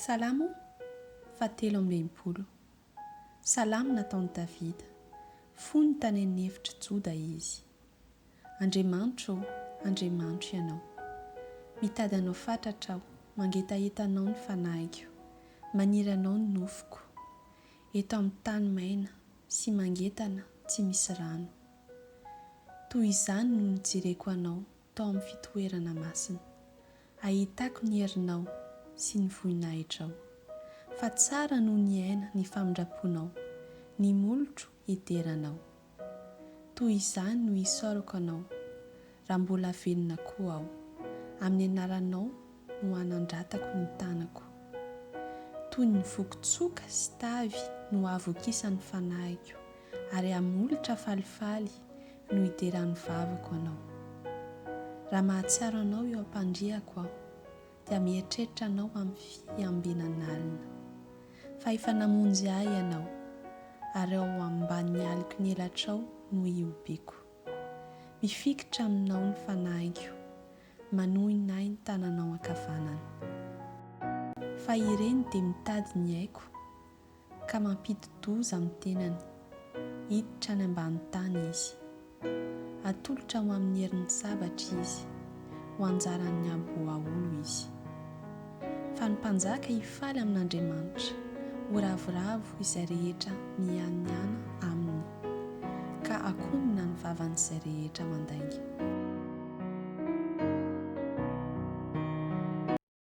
Salamo fahatelo amby enimpolo. Salamo nataon'i Davida. Fony tany an'efitr'i Joda izy. Andriamanitro ô, Andriamanitro Ianao. Mitady Anao fatratra aho, mangetaheta Anao ny fanahiko, maniry Anao ny nofoko. Eto amin'ny tany maina sy mangetana tsy misy rano. Toy izany no nijereko Anao tao amin'ny fitoerana masina. Ahitako ny herinao sy ny vohinahitrao, fa tsara noho ny aina ny famindram-ponao, ny molotro hidera anao. Toy izany no hisaorako anao, raha mbola velona koa aho, amin'ny anaranao no hanandratako ny tanako. Toy ny voky tsoka sy tavy no hahavokisan'ny fanahiko, ary hamolotra falifaly no hideran'ny vavako anao. Raha mahatsiaro anao eo am-pandriako aho, dia mieritreritra anao amin'ny fiambenan'alina. Fa efa namonjy ahy ianao, ary ao ambanin'ny aliko ny elatrao no ihobiako. Mifikitra aminao ny fanahiko, manohina ahy ny tananao ankavanana. Fa ireny dia mitady ny aiko, ka mampidi-doza amin'ny tenany, hiditra any ambany tany izy. Hatolotra ho amin'ny herin'ny sabatra izy, ho anjaran'ny aboaolo izy. Fa ny mpanjaka hifaly amin'Andriamanitra, ho ravoravo izay rehetra mianiana aminy, ka hakombona ny vavan'izay rehetra mandainga.